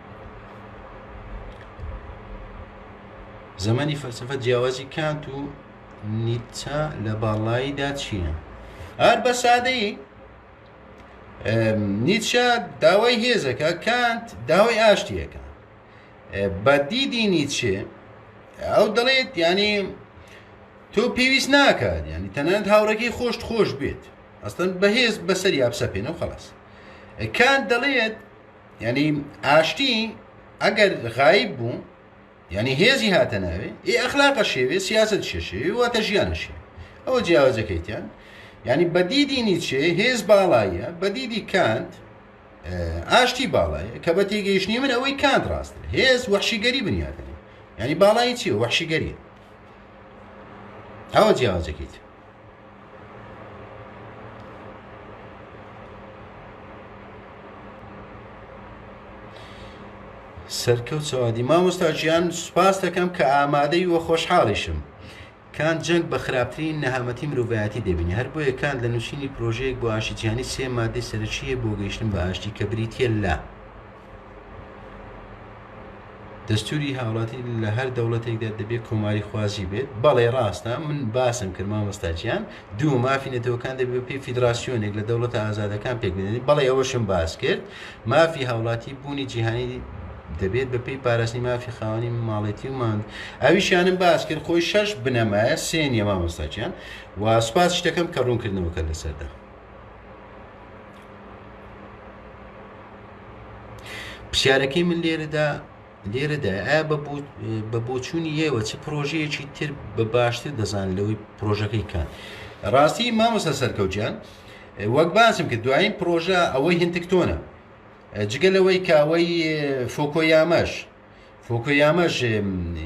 زمانی فەلسەفە جیاوازی کانت و نیچە لە باڵاییدا چییە؟ هەر بە سادەیی نیچە داوای هێزەکە کانت داوای ئاشتیەکە بە دیدی نیچێ ئەو دەڵێت ینی تۆ پێویست ناکات ینی تەنانەت هاوڕێکی خۆشت خۆش بێت ئەستن بەهێز بەسەر یابسە پێێنە و خلاص کان دەڵێت یعنی ئاشتی ئەگەر غایب بوو یعنی هێزی هاتە ناوێ ئێ ئەخلاقە شێوێ سیاست شێشێوی واتە ژیانەشێ ئەوە جیاوازەکەیتیان یعنی بەدیدی نیچێ هێز باڵایە بەدیدی کانت ئاشتی باڵایە کە بە تێگەیشتنی من ئەوەی کانت ڕاست هێز وەحشیگەری بنیاتنی ینی باڵایی چی وەحشیگەری ئەوە جیاوازەکەیت سەرکەوت سەوادی مامۆستا ژیان سوپاس دەکەم کە ئامادەی وە خۆشحاڵیشم کان جەنگ بە خراپترین نەهامەتی مرۆڤایەتی دەبینی هەر بۆیە کان لە نووسینی پرۆژەیەک بۆ ئاشتیجیانی سێ مادەی سەرەکیە بۆ گەیشتن بە ئاشتی کە بریتە لە دەستوری هاوڵاتی لە هەر دەوڵەتێکدا دەبێت کۆماری خوازی بێت بەڵێ ڕاستە من باسم کرد مامۆستاجیان دوو مافی نەتەوەکان دەبێت پێی فیدراسیۆنێک لە دەوڵەتە ئازادەکان پێک بدەنی بەڵێ ئەوەشم باس کرد مافی هاوڵاتی بوونی جیهانی دەبێت بە پێی پاراستنی مافی خاوەنی ماڵێتی و ماند ئەویشیانم باس کرد خۆی شەش بنەمایە سێنیە مامۆستاچیان و سوپاس شتەکەم کە ڕوونکردنەوەکە لەسەردا پرسیارەکەی من لێرەدا لێرەدا ئایا بە بۆچوونی ئێوە چ پرۆژەیەکی تر بە باشتر دەزان لەوەی پرۆژەکەی کات ڕاستی مامۆستا سەرکەوتیان وەک باسم کرد دوایین پرۆژە ئەوەی هندکتۆنە جگە لەوەی کاوەی فۆکۆیامەش فۆکۆیاماش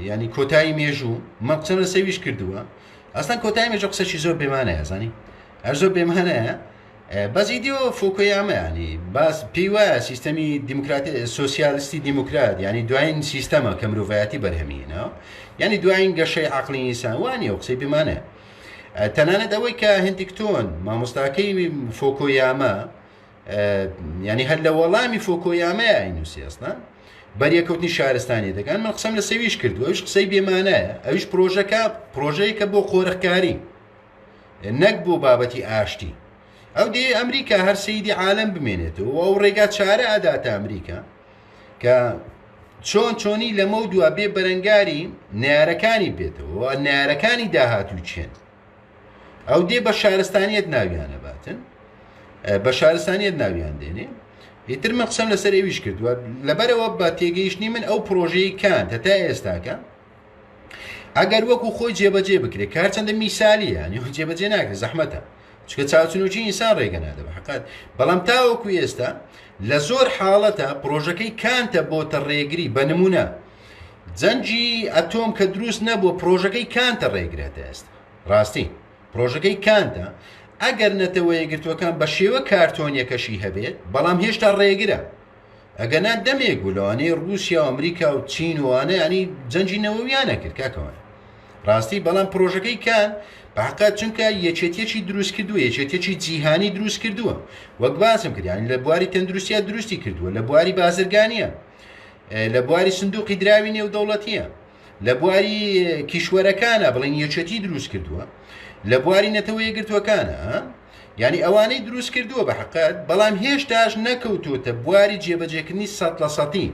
ینی کۆتایی مێژوو مە قسە لە سەویش کردووە ئەستان کۆتای مێژە قسەشی زۆر بێمانەیە زانی ئەر زۆر بێمانەیە بەزی دیۆ فۆکۆیامەیانی باس پێی وایە سیستەمی دیموکراتی سوسیالستی دیموکرات ینی دوایین سیستەمە کە مرۆڤایەتی بەرهەمینە ینی دوایین گەشەی عقلی ئینسان وانە و قسەی بمانە تەنانەت ئەوەی کە هندیکتۆن مامۆستاکەی فۆکۆیامە یعنی هەر لە وەڵامی فۆکۆیامەیە ئەینوسی ئەستا بەریەکەوتنی شارستانی دەکەن من قسەم لە سەویش کردو ئەوش قسەی بێمانایە ئەوش پرۆژەکە پرۆژەیەکە بۆ قۆرخکاری نەک بۆ بابەتی ئاشتی ئەو دێ ئەمریکا هەر سیدی عالم بمێنێتەوە ئەو ڕێگا چارە ئەداتە ئەمریکا کە چۆن چۆنی لەمە دوا بێ بەرەنگاری نارەکانی بێتەوە نارەکانی داهاتوو چێن ئەو دێ بە شارستانیت ناویانە باتن بە شارستانیت ناویان دێنێ ئیتر من قسەم لەسەر ئەویش کردووە لەبەرەوە بە تێگەیشتنی من ئەو پرۆژەی کان هەتا ئێستاکە ئەگەر وەکو خۆی جێبەجێ بکرێت کار چەندە میسالی ینی جێبەجێ ناکرێت زەحمەتە چکە چاوچنوچی ئینسان ڕێگە نادەبە حقات بەڵام تاوەکو ئێستا لە زۆر حاڵەتە پرۆژەکەی کانتە بۆتە ڕێگری بە نمونە جەنگی ئەتۆم کە دروست نەبووە پرۆژەکەی کانتە ڕێگرێتە ئێستا ڕاستی پرۆژەکەی کانتە ئەگەر نەتەوە یەکگرتووەکان بە شێوە کارتۆنیەکەشی هەبێت بەڵام هێشتا ڕێگرە ئەگەنا دەمێک بوو لەوانەیە رووسیا و ئەمریکا و چین وانە ینی جەنجی نەوەویانە کرد کاکەوان ڕاستی بەڵام پرۆژەکەی کان بەقا چونکە یەکێتیەکی دروست کردووە یەکێتیەکی جیهانی دروست کردووە وەک باسم کردیان لە بواری تەندروستیا دروستی کردووە لە بواری بازرگانیە لە بواری سندوقی دراوی نێودەوڵەتیە لە بواری کیشوەرەکانە بڵین یەکێتی دروست کردووە لە بواری نەتەوەی گرتوەکانە یعنی ئەوانەی دروست کردووە بە حقت بەڵام هێشتاش نەکەوتوتە بواری جێبەجێکردنی سە لە سەتی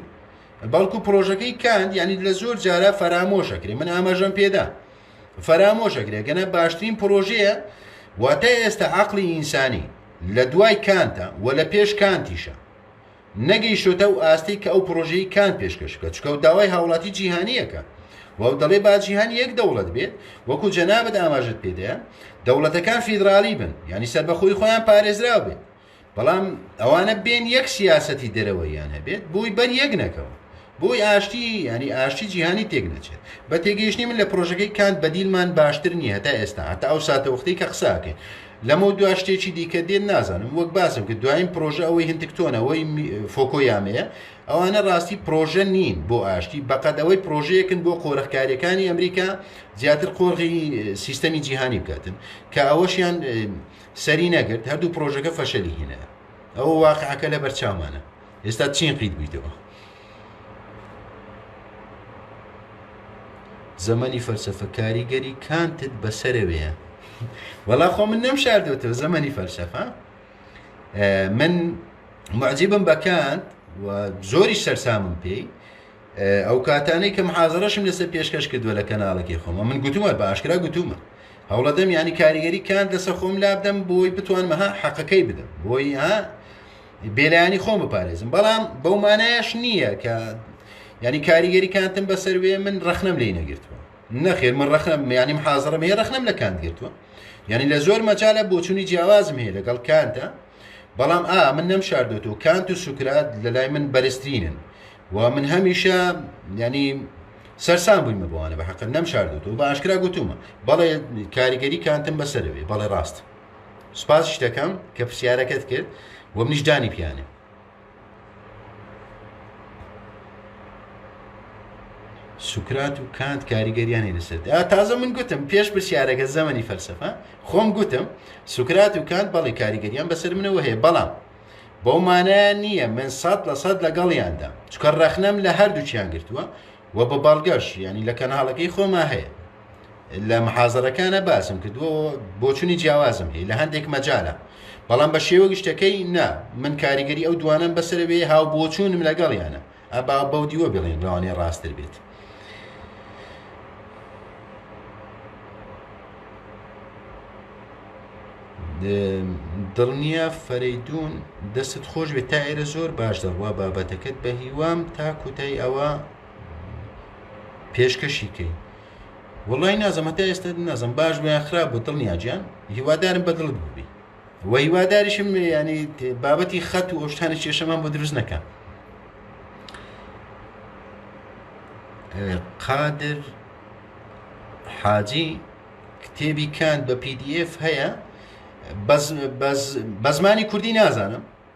بەڵکو پرۆژەکەی کاند یعنی لە زۆر جارە فەرامۆشەکرێ من ئاماژەم پێدا فەرامۆشەکرێ گەنە باشترین پرۆژەیە واتە ئێستا عقلی ئینسانی لە دوای کانتە و لە پێش کانتیشە نەگەیشتۆتە ئەو ئاستەی کە ئەو پرۆژەی کان پێشکەش بکە چکە و داوای هاوڵاتی جیهانیەکە وەو دەڵێ با جیهان یەک دەوڵەت بێت وەکو جەنابت ئاماژت پێدەیە دەوڵەتەکان فیدراڵی بن ینی سەربەخۆی خۆیان پارێزراو بێت بەڵام ئەوانە بێن یەک سیاسەتی دەرەوەیان هەبێت بۆی بەر یەک نەکەون بۆی ئاشتی یانی ئاشتی جیهانی تێک نەچێت بە تێگەیشتنی من لە پرۆژەکەی کانت بەدیلمان باشتر نییە هەتا ئێستا هەتا ئەو ساتەوەختی کە قساکەین لەمە دو شتێکی دیکە دێن نازانم وەک باسم کرد دوایین پرۆژە ئەوەی هندێک تۆنەوەی فۆکۆ یامەیە ئەوانە ڕاستی پرۆژە نین بۆ ئاشتی بەقەت ئەوەی پرۆژەیەکن بۆ قۆرخکاریەکانی ئەمریکا زیاتر قۆرغی سیستەمی جیهانی بکاتن کە ئەوەشیان سەری نەگرت هەردوو پرۆژەکە فەشەلی هینە ئەوە واقعەکە لە بەرچاومانە ئێستا چین قیت بوویتەوە زەمەنی فەلسەفە کاریگەری کانتت بەسەرەوەیە وەڵا خۆ من نەم شاردوێتەوە زەمەنی فەلسەفە من معجیبم بەکانت و زۆری سەرسامم پێی ئەو کاتانەی کە محازڕەشم لەسەر پێشکەش کردووە لە کەناڵەکەی خۆمە من گوتومە بە ئاشکرا گوتومە هەوڵەدەم ینی کاریگەری کانت لەسەر خۆم لابدەم بۆی بتوانمەها حەقەکەی بدەم بۆی ها بێلایەنی خۆم بپارێزم بەڵام بەو مانایش نییە کە ینی کاریگەری کانتم بەسەر وێ من ڕخنم لی نەگرتووە نەخێر من ڕخنم میانیم حاضرم هەیە ڕخنم لە کاند گرتووە یعنی لە زۆر مەجالە بۆچوونی جیاوازم هەیە لەگەڵ کانتە بەڵام ئا من نەم شاردۆتەوە کانت و سوکرات لە لای من بەرزترینن و من هەمیشە ینی سەرسان بوویمە بۆوانە بە حەقە نەم شاردۆتەوە بە ئاشکرا گوتومە بەڵێ کاریگەری کانتم بەسەرەوەی بەڵێ ڕاست سپاس شتەکەم کە پرسیارەکەت کرد و منیش دانی پیانێ سوکرات و کانت کاریگەریانی لەسەر تازە من گوتم پێش پرسیارەکە زەمەنی فەلسفە خۆم گوتم سوکرات و کانت بەڵی کاریگەریان بەسەر منەوە هەیە بەڵام بەو مانایان نییە من سەد لە سەد لەگەڵیاندا چکە ڕەخنەم لە هەردووچیان گرتووە و بە بەڵگەش ینی لە کەناڵەکەی خۆما هەیە لە محازەرەکانە باسم کردووە بۆچونی جیاوازم هەیە لە هەندێک مەجالە بەڵام بە شێوە گشتەکەی نا من کاریگەری ئەو دوانم بەسەرەوێ هاو بۆچوونم لەگەڵیانە ئەبا بەو دیوە بڵێن ڕوانێ ڕاستتر بێت. دڵنییا فەرەیدون دەستت خۆش بێت تا ئێرە زۆر باش دەڕوا بابەتەکەت بە هیوام تا کوتای ئەوە پێشکەشی کەی. وەڵای نازم هەتا ئێستا نازم باش بوو یان خراپ بوو دڵنیا گیان هیوادارم بە دڵت بووبی و هیواداریشم ینی بابەتی خەت و ئەوشتانی کێشەمان بۆ دروست نەکە قادر حاجی کتێبی کاند بە PDF هەیە بە زمانی کوردی نازانم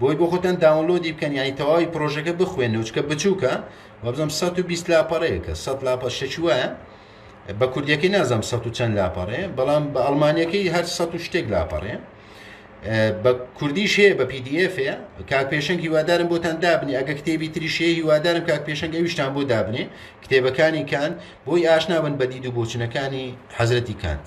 بۆی بۆ خۆتان داونلۆدی بکەن یانی تەواوی پرۆژەکە بخوێنەوە چکە بچووکە وابزانم 120 لاپەڕەیەکە 100 لاپە شەکی وایە بە کوردیەکەی نازانم 100 چەند لاپەڕێ بەڵام بە ئەڵمانیەکەی هەر 100 شتێک لاپەڕێ بە کوردیش هەیە بە PDF هەیە کاک پێشنگ هیوادارم بۆتان دابنی ئەگە کتێبی تریشەیە هیوادارم کاک پێشنگ ئەویشتان بۆ دابنێ کتێبەکانی کانت بۆی ئاشنابن بە دید و بۆچنەکانی حەزرەتی کانت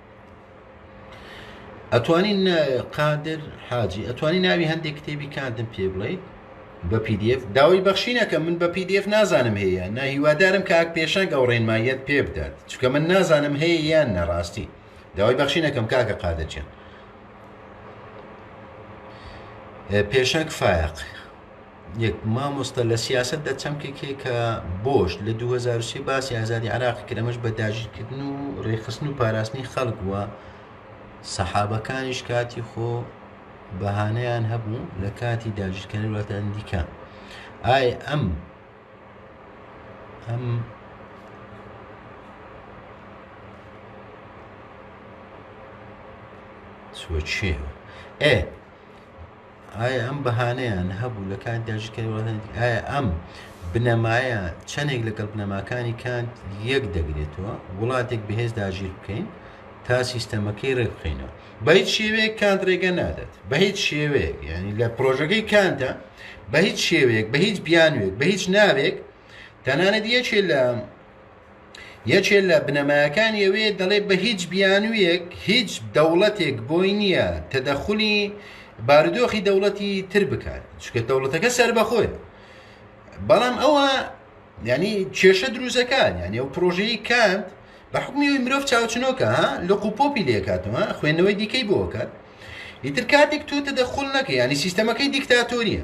ئەتوانی قادر حاجی ئەتوانی ناوی هەندێک کتێبی کاندم پێ بڵیت بە پدیF داوای بەخشینەکە من بە پدیF نازانم هەیە نە هیوادارم کاک پێشنگ ئەو ڕێنماییت پێ بدات چکە من نازانم هەیە یان نەڕاستی داوای بەخشینەکەم کاکە قادرچێن پێشنگ فایق یەک مامۆستا لە سیاسەتدا چەمکێک هەیە کە بۆش لە دوو هەزار و سێ باسی ئازادی عراقی کرد ئەمەش بە داگیرکردن و ڕێکخستن و پاراستنی خەڵک بووە سەحابەکانیش کاتی خۆ بەهانەیان هەبوو لە کاتی داگیرکردنی وڵاتانی دیکە ئای ئەم ئەم سوچێ ئێ ئایا ئەم بەهانەیان هەبوو لە کاتیدا ژیر کەنت وڵاتانی ئایا ئەم بنەمایە چەندێک لەگەڵ بنەماکانی کانت یەک دەگرێتەوە وڵاتێک بەهێز داگیر بکەین تا سیستەمەکەی ڕێک بخینەوە بە هیچ شێوەیەک کانت ڕێگە نادات بە هیچ شێوەیەک ینی لە پرۆژەکەی کانتە بە هیچ شێوەیەک بە هیچ بیانوێک بە هیچ ناوێک تەنانەت یەکێ لە یەکێ لە بنەمایەکانی ئەوێ دەڵێ بە هیچ بیانوویەک هیچ دەوڵەتێک بۆی نییە تەدەخلی بارودۆخی دەوڵەتی تر بکات چکە دەوڵەتەکە سربەخۆی بەڵام ئەوە ینی کێشە دروزەکان یعنی ئەو پرۆژەی کاند بە حکومی مرۆڤ چاوچنۆکە ها لە قوپۆپی لێکاتەوە خوێندنەوەی دیکەی بۆکات ئیتر کاتێک تۆ تەدەخل نەکە ینی سیستەمەکەی دیکتاتۆریە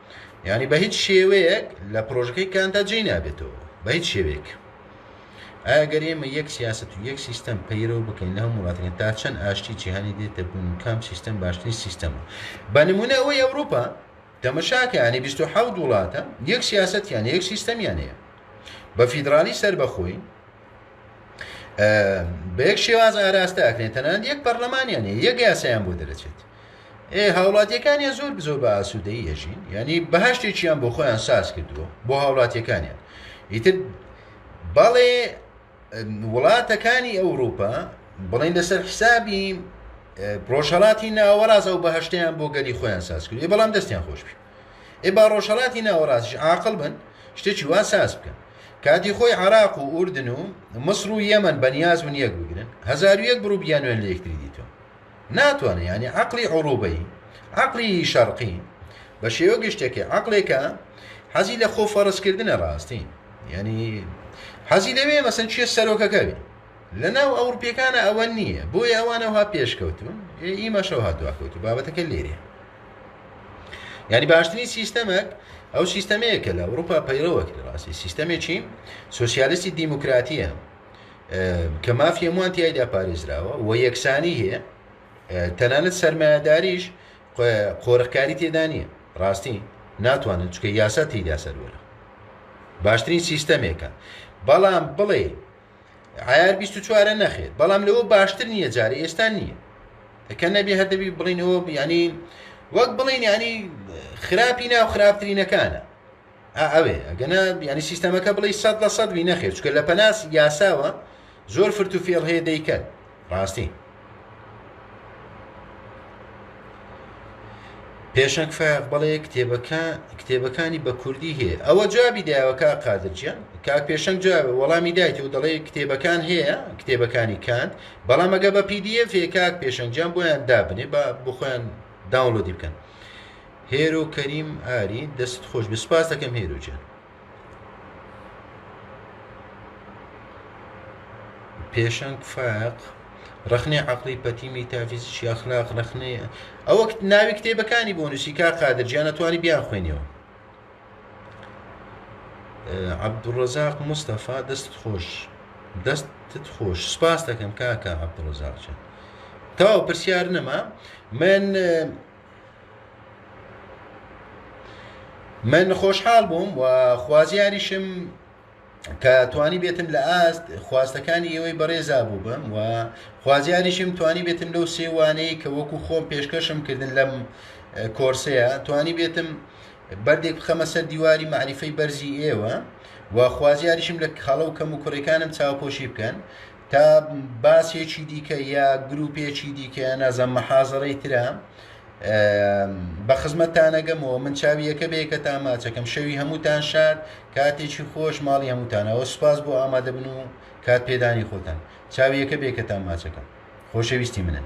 یانی بە هیچ شێوەیەک لە پرۆژەکەی کانتا جێی نابێتەوە بە هیچ شێوەیەک ئەگەر ئێمە یەک سیاست و یەک سیستەم پەیرەوە بکەین لە هەموو وڵاتەکە تا چەند ئاشتی جیهانی دێتە بوون کام سیستەم باشترین سیستەمە بە نمونە ئەوەی ئەوروپا تەمەشاکەیانی 26 وڵاتە یەک سیاستیان یەک سیستەمیانەیە بە فیدراالی سەر بەخۆی بە یەک شێواز ئاراستە ئەکرێن تەنان یەک پەرلەمانیانە یەک یاسایان بۆ دەرەچێت ئێ هاوڵاتیەکانیان زۆر بزۆر بە ئاسوودەی ئەژین ینی بەهشتێکیان بۆ خۆیان ساز کردووە بۆ هاوڵاتیەکانیان ئیتر بەڵێ وڵاتەکانی ئەوروپا بڵین لەسەر حسابی ڕۆژهڵاتی ناوەڕاز ئەو بەهشتیان بۆ گەلی خۆیان ساز کرد بەڵام دەستیان خۆش بی ئێ با ڕۆژهڵاتی ناوەڕاستش عقل بن شتێکی وا ساز بکەن کاتی خۆی عراق و ئوردن و مصر و یەمەن بەنیاز من یەک بگرن هزار و یەک بڕوو بیانوێن لە یەکتری دیتەوە ناتوانێ یانی عەقڵی عوروبەیی، عەقڵی شەرقی، بە شێوە گشتەکێ عەقڵێکە حەزی لە خۆ فەرز کردنە ڕاستی یانی حەزی لەوێ مەسەن چێ سەرۆکەکە بێ لە ناو ئەوروپیەکانە ئەوە نییە بۆیە ئەوانەوها پێشکەوتون ئیمەشەوها دواکەوتو بابەتەکە لێرێ یعنی باشترین سیستەمێک ئەو سیستەمەیە کە لە ئەوروپا پەیڕەوە کرد ڕاستی سیستەمێکی سوسیالستی دیموکراتیە کە مافی هەمووان تایدا پارێزراوە و یەکسانی هەیە تەنانەت سەرمایهداریش قۆرخکاری تێدا نییە ڕاستی ناتوانن چکە یاسا تیدا سەروەرە باشترین سیستەمێکە بەڵام بڵێ عیار 24 نەخێت بەڵام لەوە باشتر نییە جارە ئێستا نییە کە نەبێ هەر دەبی بڵین ئەوە بیانی وەک بڵین ینی خراپی ناو خراپترینەکانە ئا ئەوێ ئەگەنا یعنی سیستەمەکە بڵی سەد لە سەد بی نەخێر چکە لە پەناس یاساوە زۆر فرت و فێڵ هەیە دەیکەن ڕاستی پێشەک فاق بڵێ کتێبەکە کتێبەکانی بە کوردی هەیە ئەوە جوابی داوەکە قادرجیان کاک پێشەنگ جواب وەڵامی دایت و دەڵێ کتێبەکان هەیە کتێبەکانی کاند بەڵام ئەگە بە پیدیف کاک پێشەنگیان بۆیان دابنێ بە بخۆیان داونلۆدی بکەن هێرۆ کەریم ئاری دەست خۆش بێ سپاس دەکەم هێرۆ جان پێشەنگ فاق ڕخنەی عقلی پەتی میتافیزیکی ئەخلاق ڕخنەی ئەوە ناوی کتێبەکانی بۆ نووسی کا قادرجیانە توانی بیان خوێنەوە عبدڕزاق مستەفا دەست خۆش دەستت خۆش سپاس دەکەم کاکە عبدڕزاق چێت تاو پرسیار نەما من من خۆشحاڵ بووم و خوازیاریشم کە توانی بێتم لە ئاست خواستەکانی ئێوەی بەڕێزا بوو بم و خوازیاریشم توانی بێتم لەو سێوانەی کە وەکو خۆم پێشکەشم کردن لەم کۆرسەیە توانی بێتم بەردێک بخەمە سەر دیواری معریفەی بەرزی ئێوە و خوازیاریشم لە خاڵە و کەم و کوڕەکانم چاوپۆشی بکەن تا باسێکی دیکە یا گروپێکی دیکە نازم محازڕی ترە بە خزمەتانەگەمەوە من چاویەکە بێ کە تا ماچەکەم شەوی هەمووتان شاد کاتێکی خۆش ماڵی هەمووتانەوە سوپاس بۆ ئامادەبن و کات پێدانی خۆتان چاویەکە بێ کە تا ماچەکەم خۆشەویستی منن